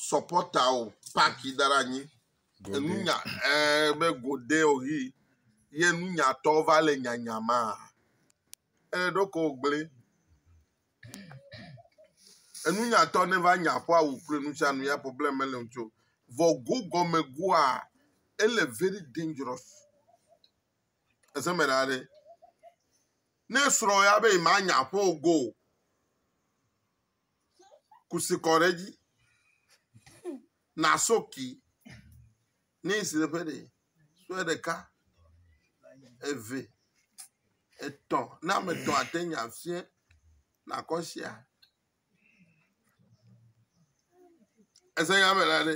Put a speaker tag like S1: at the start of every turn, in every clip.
S1: sɔpɔta o paki da ɖe anyi enunya ee be gode o ʋi ye nunyatɔ va le nyanya ma ee ɖeko gble enunyatɔ ne va nya ƒe awu kple nusianu ya problem mele ŋuti o vɔ go gɔme goa ele very dangerous ese me ɖa ɖe ne srɔ̃ ya be ma nya ƒe o go o. kusi kɔ ɖe edzi na soki ne si ɖe ƒe ɖe sue ɖeka eve etɔ̃ na ame etɔ̃ ate ŋu afia nakɔ sia ese nya me la ɖe.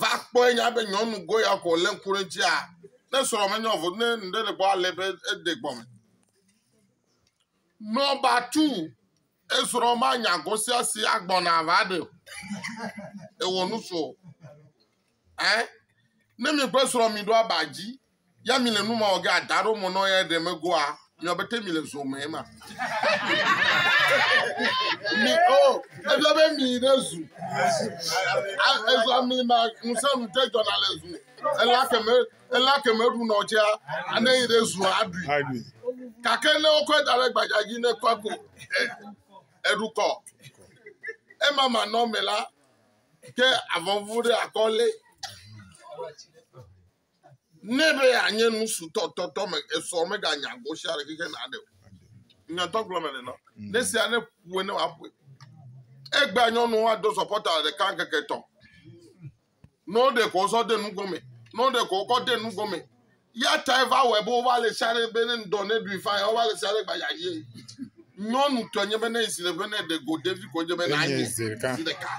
S1: va kpɔe nya be nyɔnu goya ko lé ŋku ɖe dzia, ne srɔ̃ menyɔ vɔ ne ŋɖe ɖe gbɔ alé be ede gbɔ me. Nɔba tu esrɔ̃ ma nya gosia si agbɔna va ɖe o. Ewɔ nusu o. Eh? Ne mi kple srɔ̃ mi ɖo aba dzi ya mi le nu ma wɔ ge ada ɖo mɔ nɔ ya ɖe megoa mi abe te mi le zo me ma mi o ebia be mi ɖe zu ezua mi ma ŋusẽ nu te jɔna le zu ela keme ela keme ɖu nɔ tsea ne yi ɖe zu aɖui gake ne wokɔe da ɖe gbadza dzi ne kɔ ko eɖukɔ ema ma nɔ me la ke avɔvu ɖe akɔ lɛ Ne be anye nu su tɔ tɔ tɔ me esɔ me ga nya go sia ɖe keke na ɖe o. Nya tɔ gblɔ me le nɔ. Mm. Ne sia ne ƒue ne wa ƒue. Egbe anyɔnu wa do sɔpɔta le ɖeka keke tɔ. Ne wo ɖe ko sɔ de nu gome. Ne wo ɖe ko kɔ de nu gome. Ya ta eva wɔ ebe wo va le sia ɖe be ne ŋdɔ ne ɖui fa ya wo va le sia ɖe gba ya ye. Nyɔnu tɔ nye be ne esi le be ne ɖe go ɖevi ko nye be na nye. Zi ɖeka.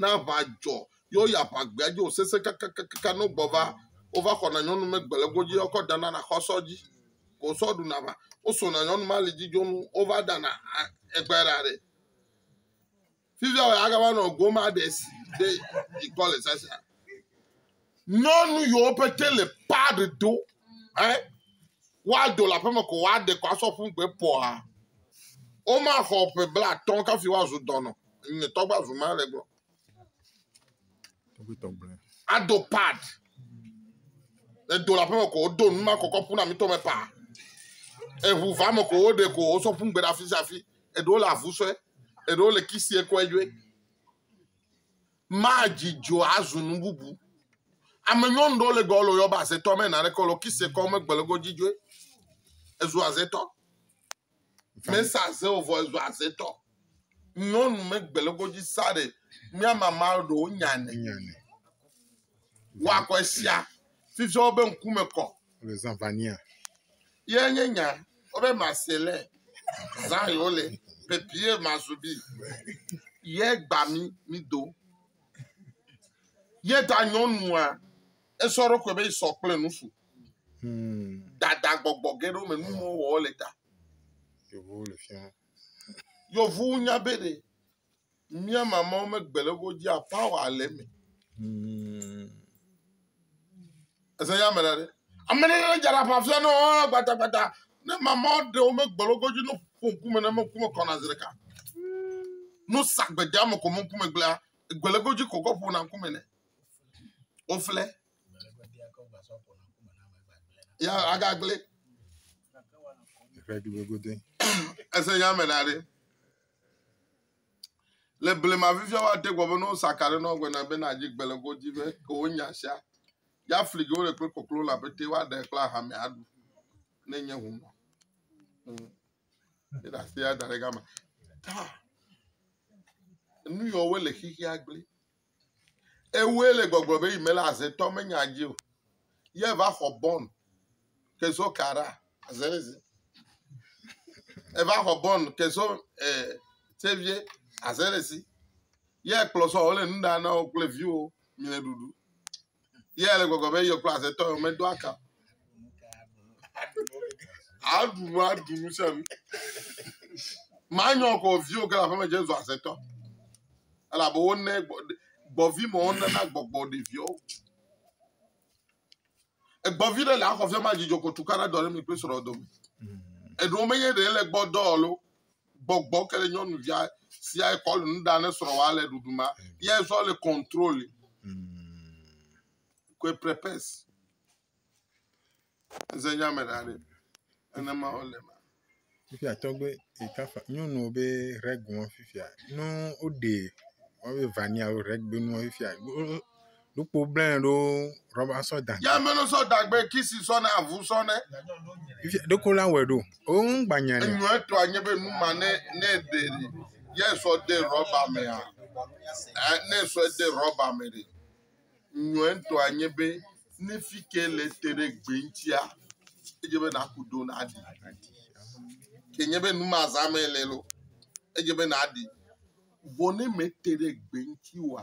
S1: Na aʋa dzɔ ye woyi aʋagbea dzi wòsesẽ kakakaka ne wogbɔ va. Wova xɔna nyɔnu megbe le godzi ye wokɔ ɖana le axɔsɔ dzi. Ko sɔ ɖuna aʋa. Wosona nyɔnu ma alidzi dzo nu wova ɖana a egbe ɖa ɖɛ. Fifia wòagava nɔ goma ɖe si ɖe dzi kpɔ le sasa. Nyɔnu yiwo pete le pad do ɛ woado le aƒeme ko woaɖe ko asɔ ƒu gbe pɔa. Womaxɔ ƒe blatɔ kafi woazu dɔnɔ. Nye tɔgbe azu ma le gblɔ. Ado pad. Edo le aƒeme ko wodo nu ma kɔkɔ ƒu na mi tɔme pa. Eŋu va me ko woɖe ko wosɔ ƒu gbe ɖe afi sia afi. Eɖewo le avu sɔe. Eɖewo le kisi ekɔe dzoe. Madzi dzo azu nu bubu. Ame nyɔnu ɖewo le gbɔwole yɔ be azetɔ mɛ na ɖe kɔ le kise kɔ megbe le godzi dzoe. Ezu azetɔ. Mɛ sa aze o vɔ ezu azetɔ. Nyɔnu megbe le godzi sa ɖe mía mama ɖewo nya ne. Wakɔ esia. Fifia wo be ŋkume kɔ. le Zãvania.
S2: Ye nye
S1: nya wobe mase le zã yo le bebie mazubi ye gba mi mi do ye da nyɔnua esɔ ɖo kɔe be sɔ kple nufu hmm. dada gbɔgbɔ ge ɖo me nuwo wɔ le ta yovu le fia yovu nya be ɖe Mía mamãwo megbe le wo dzia power le eme. Ese ya me la ɖe. Ame ɖe ne dza ɖapa fia ne wo gbata gbata ne mamãwo ɖe wo megbe le wo dzi no ƒo ŋkume ne meku me kɔna zi ɖeka. No sa gbede ame ko me ŋkume gblea egbe le wo dzi ko kɔ ƒona ŋkume ne. Wofle. Ya agagble. Ese ya me la ɖe. Le blema fifia woate gbɔ be ne wosa ka ɖe nɔgbe na be nadzi gbe le godzi be ke wonya sia ya fli ge wole kple koklo la pete woaɖe kple ahame aɖu ne nye ŋu nɔ. Hmm. Eɖe asi ya da ɖe gama. Ta. Nu yɔ wole xixia gblẽ. Ewɔe le gbɔgblɔ be yi mele azetɔ menya dzi o. Ye va xɔ bɔn ke zo kara aze zi. Eva xɔ bɔn ke zo e tsevie aze le si. Ye kplɔ sɔ wole nu ɖa na wo kple viwo mi le ɖuɖu. Ye ele gbɔgblɔ be yekple azetɔ yewo medo aka. Aɖu nu aɖu nu sia nu. Manyɔ kɔ viwo ke le aƒeme dze zu azetɔ. Elabe wone gbɔvi ma wonena gbɔgbɔ ɖeviwo. Egbɔvi ɖe le axɔ fia ma dzidzɔ ko tukaɖa dɔ ɖe mi kple srɔ̃ dome. Eɖewo menye ɖe ele gbɔ dɔ lo. gbɔgbɔ ke le nyɔnuvia sia ekɔ le nu ɖa ne srɔ̃wa le ɖuɖu ma ye zɔ le contrôle que mm. prepes eze nya me ɖa ɖe enema wo le ma fifia
S2: tɔgbe ekafa nyɔnu be règle fifia no o de wọn be vania o règle no fifia Nukpo blɛ ɖo rɔba sɔ dagbe. Ya mɛnɔ sɔ dagbe
S1: kisi sɔ ne avu sɔ ne. Ifia ɖeko
S2: la wɛ ɖo. O ŋ gba nya ne. Enyɔ etɔ anye be nu
S1: ma ne ne de ɖi ye sɔ de rɔba me a. Ɛ ne sɔ de rɔba me ɖe. Enyɔ etɔ anye be ne fi ke le te ɖe gbe ŋtia edze be na ku do na ɖi. Ke nye be nu ma za me le lo edze be na ɖi. Vɔ ne me te ɖe gbe ŋti wa.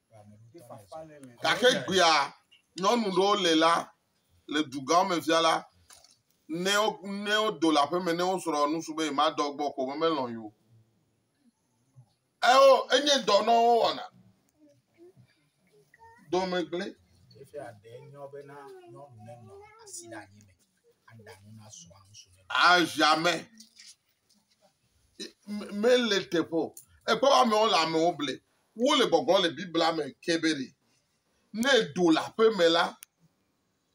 S1: Gake gbea nyɔnu ɖewo le la, le dugãwo me fia la, ne wo ne wodo le aƒe me ne wosrɔ nusu be yemadɔ gbɔ ko me melɔ̃ yi o. Eo enye dɔ na wo wɔna. Dome gblẽ. Efia ɖe
S3: nyɔ be na nyɔnu nenɔ asi ɖe anyi me aɖa nu na srɔ̃a ŋusu ne. Aziame
S1: mele teƒe o. Ekpɔ be amewo le amewo ble. Wole gbɔgblɔm le Biblia me ke be ɖe, ne èdo le aƒe me la,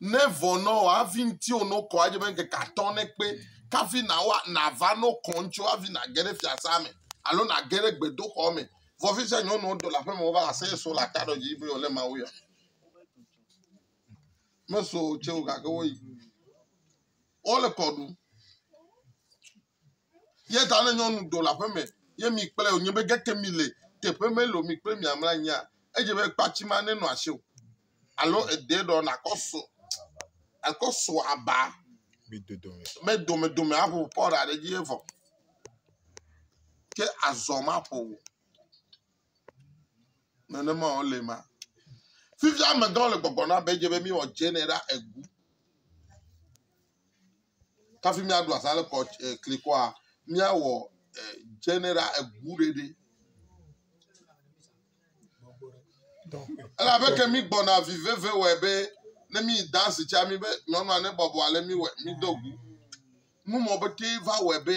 S1: ne vɔ na wòa, hafi ŋutiwò ne wokɔ adze be ŋkeke atɔ nekpe kafi nawa nava ne wokɔ ŋutiwò hafi nage ɖe fiasã me alo nage ɖe gbedoxɔ me. Vɔ fi sia nyɔnuwo do le aƒe me wova se ye so le ata ɖe wodzi be yewole Mawu yɔ. Meso o tse o gake woyi. wole kɔ ɖum. Ye ta ne nyɔnu do le aƒeme ye mi kplɛ wònye be geke mi le teƒe me loo mi kple mia mlɔ anyia, edze be kpatsi ma nenɔ asi o alo edee ɖɔ nàkɔ so àkɔ so aba be domedome aƒo pɔɖa ɖe edzi ye vɔ. Ke azɔ maƒo o. Nenema wòle ma. Fifia amegãwo le gbɔgblɔ na be edze be míewɔ dzeenɛ ɖa egu. Kafi míaɖu azã le kɔ eh, klikɔa, míawɔ eh, dzeenɛ ɖa egu ɖeɖe. Elabe ke mi gbɔna vi veve wɔe be ne mi dansi tsa mi be nyɔnua ne bɔbɔ ale mi wɔ mi do gu. Numɔ be te va wɔe be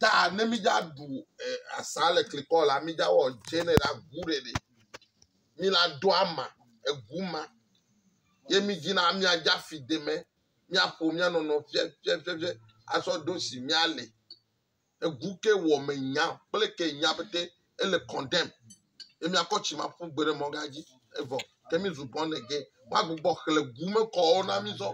S1: Da ne mi dza ɖu eh, asa le klikɔ la mi dza wɔ dze ne la gu ɖe ɖe. Mi la do ama egu ma. Ye mi dzi na mi adza fi de me. Mi aƒo mi anɔnɔ fie fie fie fie asɔ do si mi ale. Egu ke wɔ me nya kple ke nya bete ele condemn. ye míakɔ tsimaƒu gbe ɖe mɔga dzi evɔ ke mízu born again woagbugbɔ xlẽ gu me kɔwo na mí zɔ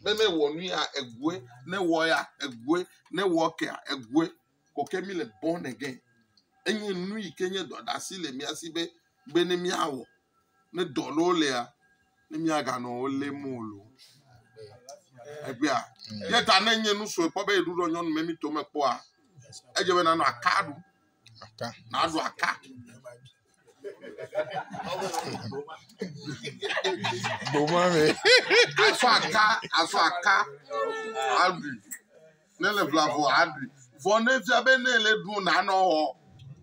S1: be ne wɔ nu ya egoe ne wɔ ya egoe ne wɔ kea egoe ko ke míle born again enye nu yi ke nye dɔɖasi le mía si be be ne míawɔ ne dɔ ɖewo lea ne míaganɔ wo lém o lo egbea ye ta ne nye nu sue kpɔ be yeɖuɖɔ nyɔnu me mi to me kpɔa edze be nanɔ aka ɖu Aka.
S2: Naɖu aka. Gboma me. Afɔ aka,
S1: afɔ aka, aɖui. Ne le bla vɔ aɖui. Vɔ ne fia be ne le ɖu na nɔ wɔ.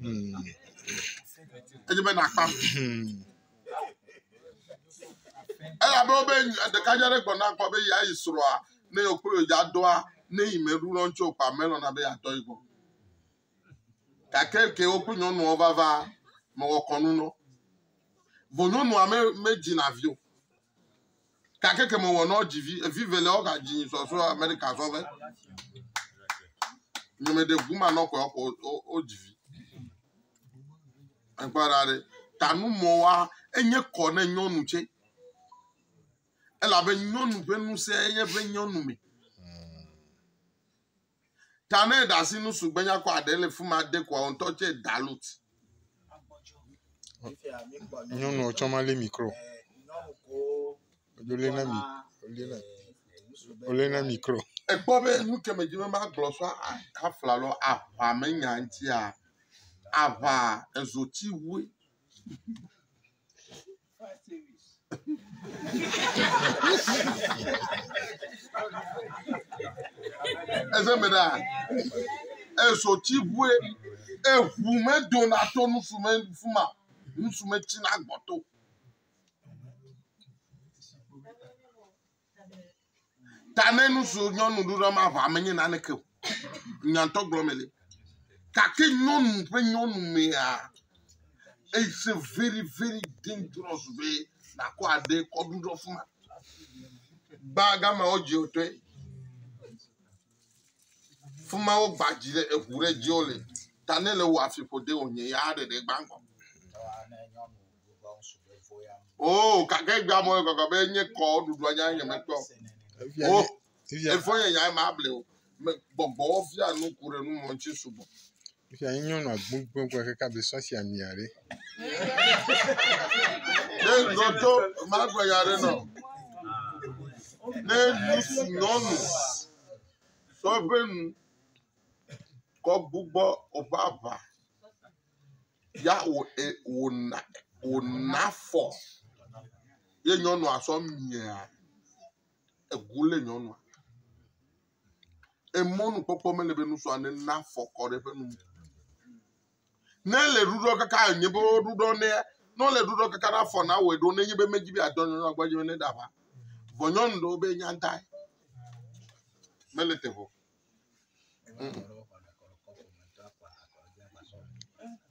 S1: Hmm. Edze be na kpam. Hmm. Eya be wo be ɖeka dza ɖe gbɔna kpɔ be ya yi srɔa ne yo kple yo dza doa ne yi me ɖu lɔ ŋtsi o kpa me lɔ na be ya tɔ yi gbɔ. Gake eke wo kple nyɔnuɔ vava mewɔ kɔnu nɔ. Vɔ nyɔnua me medzi na vi o. Gake ke mewɔ nɔ dzi vi, evi velea wo gadzi nyi sɔ so Amerika sɔ ve. Nye me ɖe guma nɔ kɔe kɔ wo dzi vi. Ekpɔ ɖa ɖe tanu mɔ wa enye kɔ ne nyɔnu tse. Elabe nyɔnu ƒe nusẽ enye ƒe nyɔnu me. ta ne eɖe asi nu sugbe nyakɔ aɖe le fi ma de ko wò ŋutɔ tse dalut.
S2: Nyɔnu tsɔ ma lé mikro. Wole na mi, wole na, wole na mikro. Ekpɔ be nu
S1: ke me dzi be magblɔ so afla lɔ aʋa me nya ŋutia, aʋa ezoti wue. Eze me ɖa. Ezo tsi ʋue. Eʋu me dona to nusu me fuma. Nusu me tsi na gbɔto. Ta ne nu si nyɔnu ɖo ɖe maʋa menye naneke o. Nyantɔ gblɔ me li. Gake nyɔnu ƒe nyɔnu mea, it's a very very dangerous be nàkɔ aɖe kɔ ɖu ɖe afi ma. Ba gama wodzi wò tɔe. Fi ma wogba dzi ɖe eŋu ɖe dzi wole. Ta ne le wò afi ƒode wò nye ya ɖeɖe gba ŋgɔ. Oo gake egbea mɔ le gɔgɔ be nye kɔ ɖuɖua nya nye mekpɔ. O efo nye nya ma ble o. Me gbɔgbɔ fia nu ku ɖe nu mɔ ŋuti sugbɔ. Fifia nye
S2: nyɔnu agbogbogbò kaka be sɔ si amia ɖe.
S1: Ne nɔtɔ magbe ya ɖe nɔ. Ne nusu nyɔnu sɔ ƒe nu kɔ gbugbɔ oƒe aʋa ya wò e wò na wò nafɔ ye nyɔnua sɔ mia egu le nyɔnua. Emɔnukpɔkpɔ mele be nusrɔ̃ ne na fɔkɔ ɖe ƒe nu. Ne le ɖuɖɔ kaka nye be ɖuɖɔ ne ne le ɖuɖɔ kaka na fɔ na wɔ ɖo ne nye be medzi be adɔ nyɔnua gbɔ nye ne da va. Vɔ nyɔnu ɖewo be nya da. Mele te vɔ.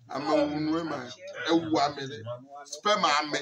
S1: Ame wu nue ma ewu ame ɖe. Sperma ame.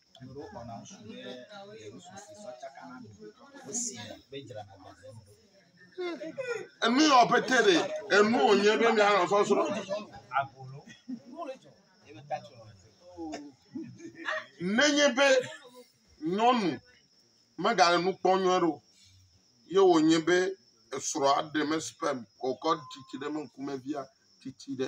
S1: Enu yɔ pete ɖe enu wònye be míanɔ sɔsrɔ̃. Nenye be nyɔnu megale nu kpɔm nyuie ɖe o ye wònye be esrɔ̃a ɖe me sperm wòkɔ tsitsi ɖe eme ŋkume via tsitsi ɖe.